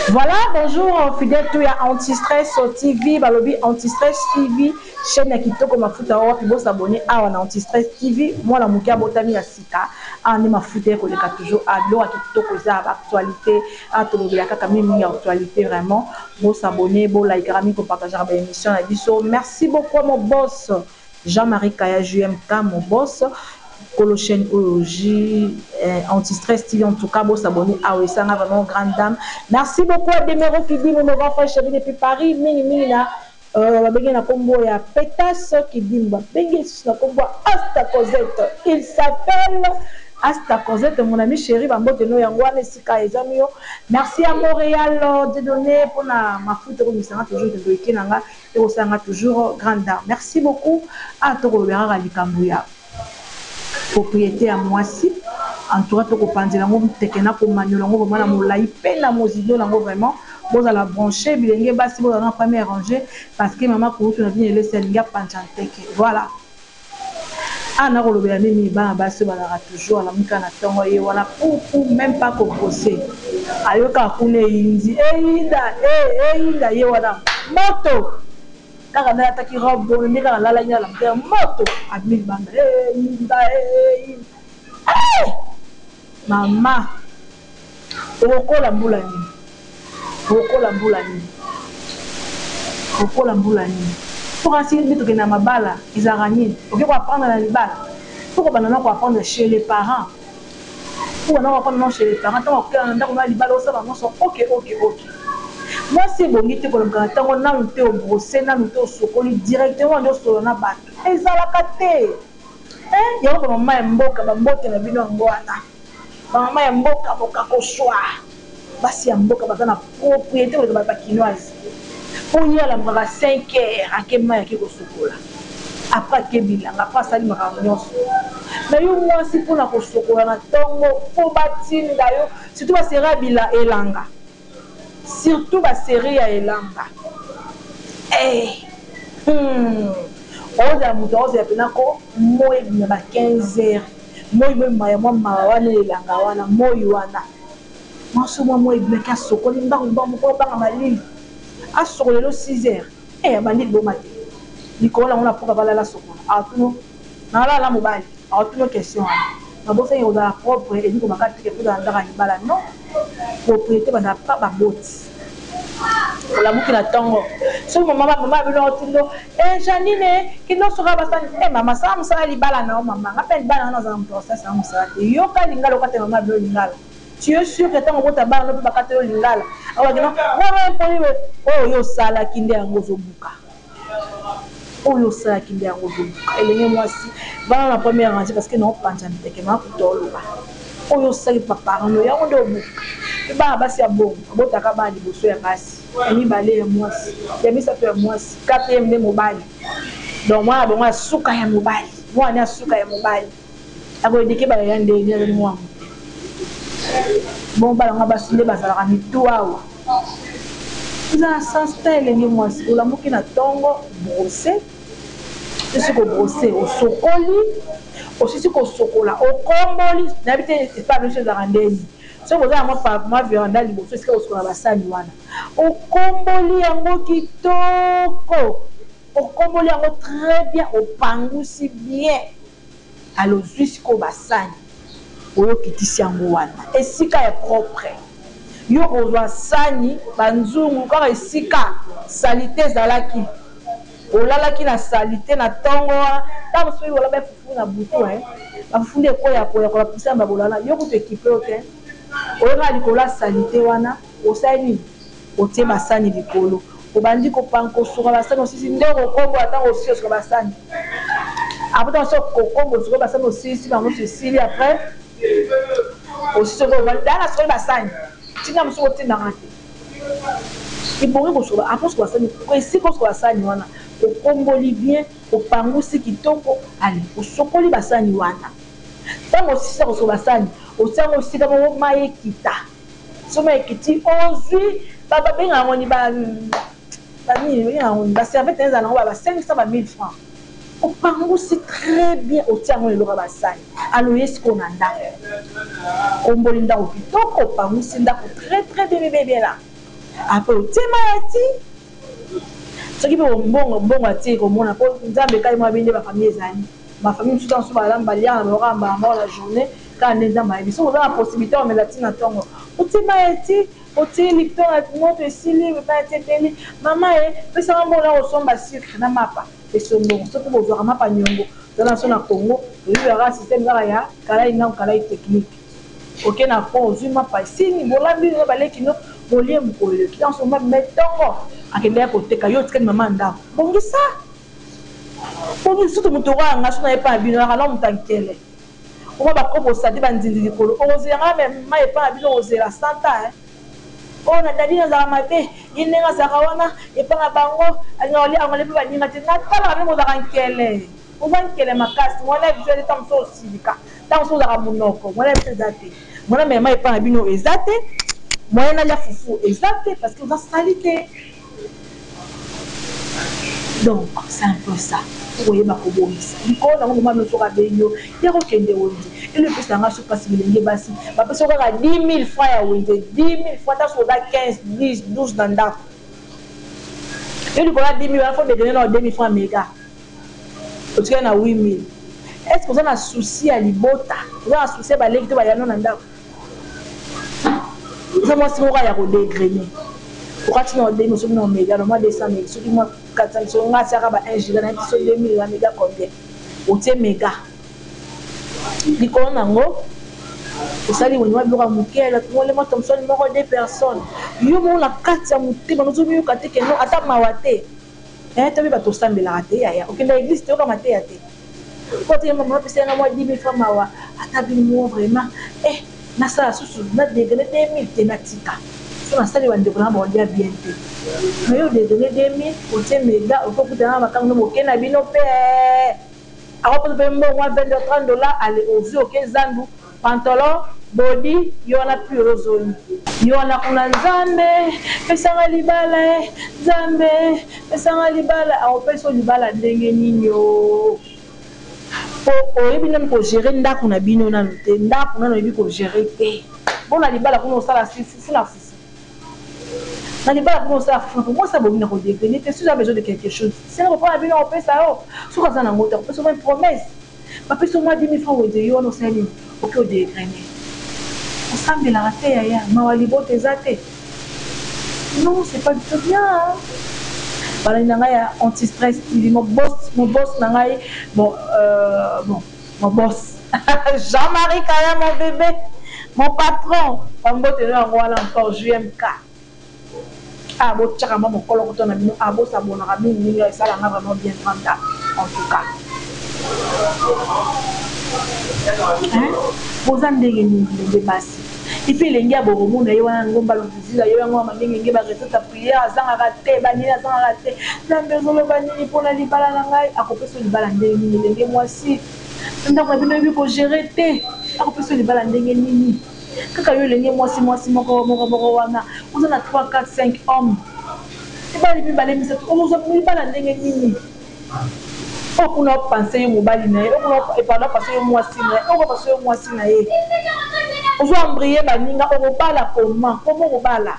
Voilà, bonjour Fidel Touya Antistress TV, balobi Antistress TV, chaîne ya kitoko mafuta oyo wapi bosa abonner awa na Antistress TV, mwana muke abotami ya sika, awa nde mafuta ye koleka toujours, ah biloko ya kitoko eza ba actualite, awa tolobela kaka mingi mingi actualite vraiment, bosa abonner, bo likaka mingi ko partagaka ba emission na biso, merci beaucoup mon boss. Jean Marie kaya JMK mon boss kolo chaine oyo JM anti stress TV en tout cas bo s'abonner awa esanga vraiment grande dame merci beaucoup à Demereau Kidimu mon grand frère chez depuis Paris mingi mingi na ba bengi ye na kombo ya Petas Kidimu ba bengi ye lisusu na kombo ya Asta Cosette il s'appelle Asta Cosette mon ami cheri ba mbote no yango wana esika ezwami yo merci à Montreal Dieudonne pona mafuta ko bimisa nga toujours kindoki na nga. Ekosala nga toujours grande dame. Merci beaucoup awa to kolobela kaka likambo ya propriete ya muasi en tout cas to ko panzela yango nteke na ko maniola yango vraiment na molayi pe na mozindo na ngo vraiment bozala branche bilenge basi bozala na première rangee parce que mama kulutu na bino elesi alingi apanza nteke voila. Awa nako lobela nini bana basi oyo bazalaka toujours alamuki kaka na tongo ye wana pou pou meme pas ko brosser ayo kaka kuna eyindi eyinda eh eyinda ye wana moto kaka nde alataki robe boye nde kaka alalaki na lamuke moto abimi libanda eyinda eyinda eh! Maman okokola mbula nini okokola mbula nini okokola mbula nini po kasi nde tokende na mabala ezalaka nini oke ko apprendre na libala faut kobanda nao ko apprendre chez les parents faut kobanda nao ko apprendre nao chez les parents tango okela na ndako nao ya libala osala ba nionso ok ok ok muasi ebongi te kolobaka na tango nanu te o brosser nanu te osokoli directement nde osolola na batu ezalaka te. Eeh yango ba maman ya mboka ba mbote na bino yango wana ba maman ya mboka bokakoswaa basi ya mboka baza na propriete koleka ba kinoise po ye alamukaka cinq heures ake mayi ake kosokola apres ake bilanga apres asali makambo nionso mais yo mwasi pona kosokola na tongo po batinda yo surtout ba sera bilanga elanga Surtout ba serie ya elamba eeh humm oza mutu akozela pena ko moi ebima ba 15 heure moi moi ebima ya mua mawa wana ya elanga wana moi wana mwasi oyo mua moi ebima ke asokoli mbangu mbangu po abanga malili asokola lelo 6 heure eeh abandi liboma te likolo nango na pourque balala asokola atuna Na lala na mobali ako tuna yo question wana ba bosani kozala propre elingi koloba kaka te ke kozala nzaka ya libala non propriete ba zalaka kaka ba boti olamuki na tongo soki maman ba maman na bino ako tuna yo eh jeanine kende osokola ba sani eh maman sala musala ya libala na yo maman nga pe ya libala na nga nazala mutu akosalisa nga musala te yoka lingala okatela maman na bino lingala tu es sur ke tango obota bana no pe bakatela yo lingala ako yebisa yo non non impoli boye oyo yo osalaki nde yango ozo buka. Oyo osalaki nde yango ozoluka elenge muasi vanda na première rangee parce que nao panza nteke na kuta oloba oyo osalaki ba parents nayo yango nde obuki pe bana basi ya bongo babotaka kaka bana liboso ya basi ya mibale ya muasi ya misato ya muasi quatrième nde mobali donc mwana na bango ya suka ya mobali mwana nayo ya suka ya mobali. Ako eduquer bana ya ndenjele mwango te bongo bana nga basi nde bazalaka mitu awa oza na sens te elenge mwasi olamuki na tongo brose osilisi ko brose osokoli osilisi kosokola okomboli nayebi te epa biso ezalaka ndeni soki oza na mwa pa mwa veranda liboso esika kosokola basani wana okomboli yango kitoko Okoboli yango très bien opangusi bien alors ozui sikoyo ba sani oyo okitisi yango wana esika ya propre yo kozua sani ba nzungu kaka esika salite ezalaki olalaki na salite na tongo wana tango soki bola ba fufu na butu hein ba fufu nde ekoya koya kola poussière na bolala yo kutu ekipe yo tein oyo kaka likolo ya salite wana. Osali nini? Otie ba sani likolo, obandi ko pango, ko suka ba sani osilisi nde oko kobola tango osili osuka ba sani après tango osi ko kobola osukoli ba sani osilisi bango nionso esili après osi sikoyo ovandi tala na sukoli ba sani ti nga mususu otinda nga te e bongi ko suka après osuka ba sani esika osuka ba sani wana okomboli bien opangusi kitoko allez osukoli ba sani wana tango osisa ko suka ba sani otie yango esika moko mayi ekita. Somo ekiti ozui ba ba benga yango ni ba ba nini ba benga yango ni ba serviette nayo ezala nango ba ba 500 ba 1000 francs opangusi très bien otie yango na eloko ya ba sani alors oye sikoyo na ndaku okomboli ndaku kitoko opangusi ndaku très très bien bebe ebela après otie mayi ya ti soki pe mbongo mbongo ya ti ekomona po nzambe kayemwa bini nde ba famille ezali ba famille mosusu azo ba lia na bango kaka mbala moko na journee Kaka nde Nzambe ayebi. Soki oza na possibilite ya komela ti na tongo, otie mayi eti otie lipton na moto esili, mayi eti ebeli, mama e, pesa nga mbongo na kosomba sucre na mapa eso mbongo. Soki bozwaka mapa niongo, toza na biso na Congo, toyebi kaka système kaka ya kalai nau kalai technique. Oke na pont, ozwi mapa esili, bolambi no na ba leki no, bolie mokolo eleki. Tango mosusu mama abima ye tongo. Akendeke koteka, yo otikali mama ya ndako. Bongisa! Bongisa! Surtout moto lokola nga, soki naye epai na bino, nazalaka nao moto ya nkele. Oma ba kopo osadi ba ndindi likolo okozela nga me ma epa na bino okozela 100 ans hein. Oyo na daddy nazalaka mabe ye ndenge azalaka wana epa na bango alingaka kolia anglais pe baninga te natalaka ndenge ozalaka nkele oza nkele makasi muana ya biso eza tango mosusu osilika tango mosusu ozalaka munoko muana ya biso eza te muana mema epa na bino eza te moyen nalia fufu eza te parce que oza salite. Donc c'est un peu ça koyeba kobongisa likolo nango maman no soki abengi yo ya kokende wenze elo epesa nga soki pasi bilenge basi bapesa yo kaka 10000 francs ya wenze 10000 francs ata soki oza 15 10 12 na ndako yo likolo ya 10000 wana fo dedene nao 2000 francs mega otikali na 8000 est ce que oza na souci ya libota oza na souci ya baleki to bayano na ndako oza mwasi moko ya kodegrene okati na odemi soki na omega na mwa 200 mega soki mwa 400 soki nga atiaka ba 1 giga nayebi soki 2000 na mega combien otie mega likolo na yango osali wenye mwa biloko ya moke elakingole mwa tomsoni moko de personne yo moko na kati ya motema nozomiyoka te keno ata mawa te Eeh toyebi batu osambelaka te yaya okendaka eglise te oyoka mateya te po te maman pesa nga mua 10000 francs mawa ata bimua vraiment eh nasala susu na degainer 2000 te natika soki nasali ba ndeko nanga bakolia bien te mais yo odegainer 2000 otie mega oke okutana na makangu na moke na bino pe eeh akoposa pe mbongo mua 20 dollars 30 dollars aller au vu oke zandu Pantalon, body, yo wana pure ozoni. Yo wana kuna nzambe pesa nga libala eh nzambe pesa nga libala ako pesa yo libala ndenge nini ooh po oyebi nanu ko gerer ndaku na bino nanu te ndaku nanu oyebi ko gerer te po na libala kuna osala si fufu na fufu na libala kuna osala fufu na fufu mwasi abongi na ko degrene te si oza besoin de quelque chose senga papa na bino ako pesa yo soki aza na ngo te ako pesa yo meme promesse Ba pesi yo mua 10.000 francs wenze yo wana osali nini? Oke o degrainer. Osambelaka te yaya? Mawa libota eza te? Non c'est pas du tout bien hein. Balandi na ngai ya anti stress TV mon boss mon boss na ngai bon euh, bon mon boss Jean-Marie Kaya mon bebe mon patron ba mbote no yango wana encore JMK. Ah bo tiaka mwa mokolokoto na bino ah bo s'abonnaka mingi mingi eza la nga vraiment bien grand dame en tout cas hein boza ndenge nini bilenge basi et puis elenge ya boromo na ye wana ngomba luzuzila yo yango ya mamingenge ba recette ya prière azangaka te banini azangaka te nzambe ezoloba nini mpo na libala na ngai akopesa libala ndenge nini elenge mwasi ndako na bino oyebi kogere te akopesa libala ndenge nini kaka yo elenge mwasi mwasi moko moko moko wana oza na 3 4 5 homme mibali mibale misato okozwa mibala ndenge nini oyo kuna opanse yo mobali na ye okuna epanda opanse yo mwasi na ye oko panse yo mwasi na ye ozo ambriye baninga okobala koma koma okobala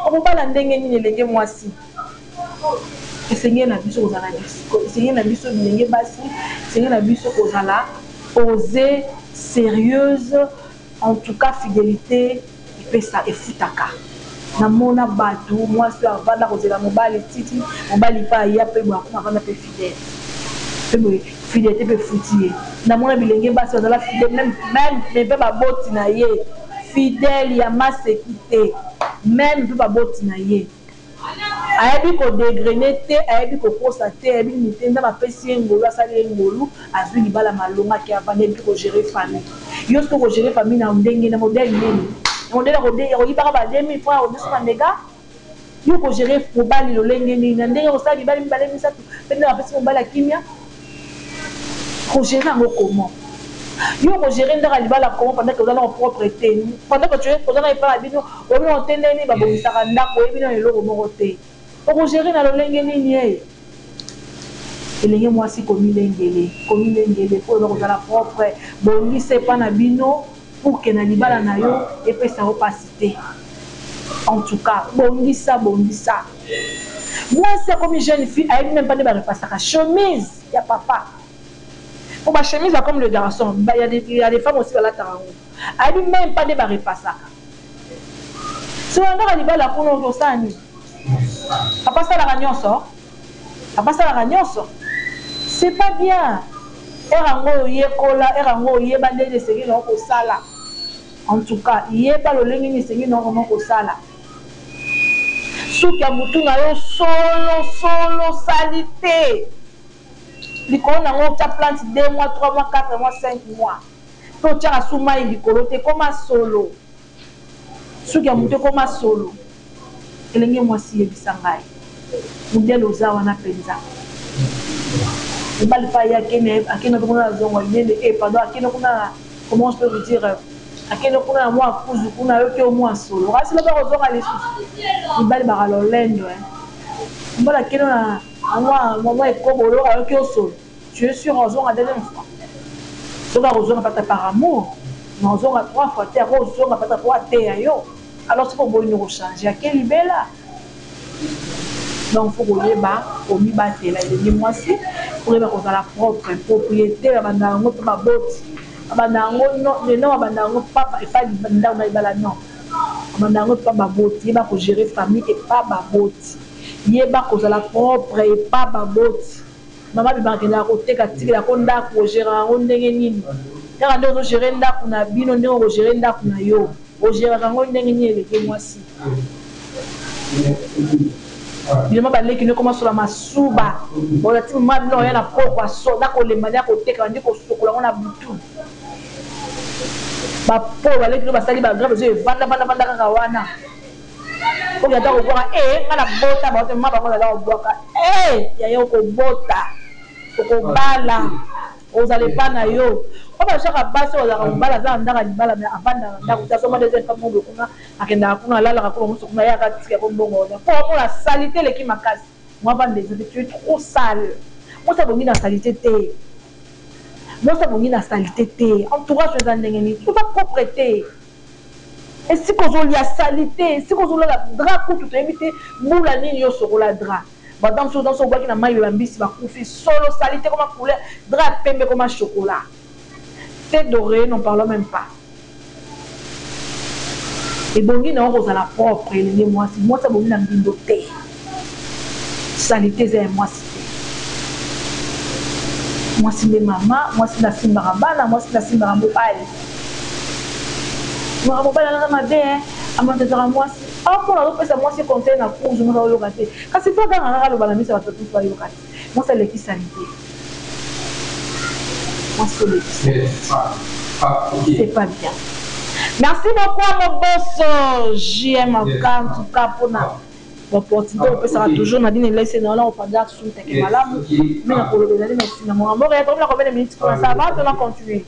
okobala ndenge nini elenge mwasi Esengeli na biso kozala na lisiko. Esengeli na biso bilenge basi, esengeli na biso kozala posees, serieuses, en tout cas fidelite epesa, efutaka. Namona batu mwasi oyo avanda kozela mobali ti ti mobali pe aya pe boye akoma avanda pe fidele pe boye fidelite pe efuti ye. Namona bilenge basi bazala fidele meme meme meme pe baboti na ye fidele ya maseki te meme pe baboti na ye. Ayebi ko degraine te ayebi ko kosa te ayebi nini te nzambe apesi ye ngolu asali ye ngolu azui libala malonga ake avanda ayebi te ko gerer famille yo soki oko gerer famille na ndenge na modele nini na modele ya ko yibaka ba 2000 francs ya ko dessous na mega yo oko gerer mobali lolenge nini na ndenge ya kosala mibali mibale misatu pe nzambe apesi mobali ya kimia Ko gerer yango comment? Yo oko gerer ndaku ya libala comment pendant que oza nao propre te? Pendant que tu es oza nao epa na bino oyebi nao te ndenge nini ba bongisaka ndaku oyebi nao eloko moko te oko gerer na lolenge niniee? Elenge muasi komilengele komilengele po oza ko zala propre bongisa epa na bino. pour que na libala na yo epesa yo pasi te en tout cas bongisa bongisa muasi akomi jeune fille ayebi meme pas nde ba repasaka chemise ya papa po ba chemise ya comme le garçon ba ya des ya des femmes aussi balataka yango ayebi meme pas nde ba repasaka solandaka libala kuna okosala nini papa asalaka nyonso Papa asalaka nionso c'est pas bien heure yango oyekola heure yango oyeba ndenge nini esengeli na yo kosala en tout cas yeba lolenge nini esengeli na yo vraiment kosala suki ya mutu na yo solo solo salite likolo na yango otya plante deux mois trois mois quatre mois cinq mois pe otyaka su mayi likolo te ekoma solo Suki ya moto ekoma solo. Elenge mwasi yebisa ngai mudele oza wana penza mobali pa ye akende akende kuna na zongo yende e pardon akende kuna na comment je peux vous dire akende kuna na mwa kuzu kuna ayoki yo mwa solo kasi loba kozonga lisusu mibali baka lolendo eh mobali akende na mwa mwa ekobo loka ayoki yo solo Tu es sur ozonga deuxième fois? Soki akozonga pata par amour mais ozonga trois fois te ako zonga pata po ateya yo alors soki oboyi nde oko change ake libela donc faut koyeba komibatela elenge mwasi faut koyeba kozala propre propriete babanda yango epa baboti babanda yango non mais non babanda yango epa epa ndako na libala non babanda yango epa baboti yeba ko gerer famille epa baboti yeba kozala propre epa baboti Maman bimaka kende koteka tikela ko ndaku o geraka yango ndenge nini kaka ndenge ozo gerer ndaku na bino ndenge oko gerer ndaku na yo o geraka yango ndenge nini elenge mwasi bilema ba leki no ekoma sola masuba ola ti maman bino oya na pokwa so na kolemba nde akoteka bandi kosokola yango na butu ba po ba leki no basali ba grave ezo evanda vanda vanda kaka wana Oyo ata kobwaka ee nga na bota baote mma bango naza kobwaka ee yaya okobota okobala ozala epa na yo po bazwaka basi oyo azalaka mobala aza na ndako ya libala me avandaka na ndako te azomba nde eza mpa mobe kuna akendaka kuna alalaka kuna mosu kuna yaka tika ko mbongo wana po amona salite eleki makasi mwa vanda eza te tu es trop sale mwasi abongi na salite te mwasi abongi na salite te entourage eza ndenge nini oza propre te Esika ozo lia salite, esika ozo lala drap kutu toyebi te bula nini yo sokola drap. Ba danse oyo danse obwaki na mayi ya ba mbisi ba kufi solo salite ekoma couleur drap ya pembe ekoma chocolat. Tete d'oreiller n'en parlons meme pas. Ebongi na yo kozala propre elenge muasi, muasi abongi na mbindo te. Salite eza ya mwasi te. Mwasi nde mama, mwasi nde asimbaka bana, mwasi nde asimbaka mobali. Maka mobali wana aza mabe hein, a maltraitaka mwasi. Awa pona azo pesa mwasi conseil na cours, mwasi azo yoka te. Kasi il faut aganga kaka aloba na miso ya batu tout ba yoka te. Mwasi aleki salite. Mwasi oleki salite. C'est pas bien. Merci beaucoup à Mobosso JM en tout cas pona Ba portugais bo pesaka toujours na bino laisse nayo nako panza assume teke malamu mais na koloba ezali na esika na mua mboka ya komi na combien de minutes kuna ça va to na continue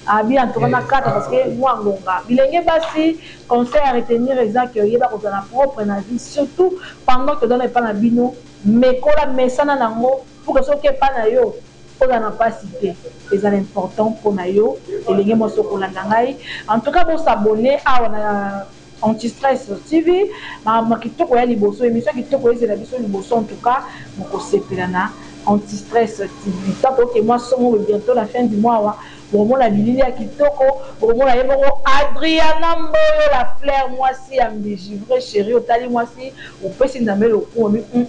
Abi en tout cas na kata parce que mua ngonga bilenge basi conseil à retenir eza que yeba kozala propre na vie surtout pendant que oza na epa na bino mekola mesana na ngo pour que soki oke epa na yo ozala na pasi te ezala important pona yo elenge muasi okolanda ngai en tout cas bo s'abonner awa na Anti stress TV makambo kitoko ya liboso emission kitoko ezela biso liboso en tout cas boko sepela na anti stress TV tant au que mua somo boye bientot na fin du mois awa boko mona bilili ya kitoko boko mona ye moko Adriana mboyo la fleur muasi ya mbiji vrai cherie otali muasi opesi nzambe lokumu olobi hum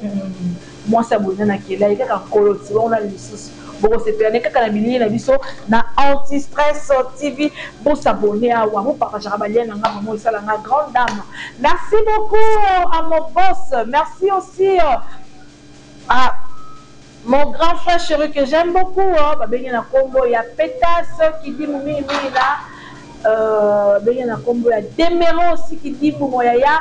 mwasi ya boye nani akela ye kaka nkolo ti bongo nani lisusu. Boko sepela nde kaka na bilili na biso na anti stress TV bo s'abonner awa bo partagaka ba liens na nga vraiment esala nga grande dame merci beaucoup à mon boss merci aussi à mon grand frère cheri que j'aime beaucoup ba bengi na kombo ya petas kidimu mingi mingi na euh, bengi na kombo ya demero aussi kidimu mon yaya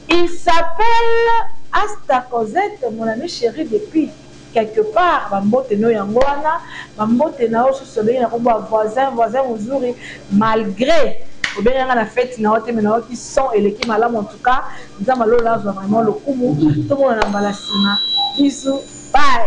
il s'appelle Asta Cosette mon ami cheri depuis Quelque part ba mbote no yango wana ba mbote na yo susu babengi na kombo ya voisin voisin muzuri malgre obenga nga na fete na yo te mais na yoki son eleki malamu en tout cas nzambe ya lola azua vraiment lokumu tomonana mbala sima bisous bye.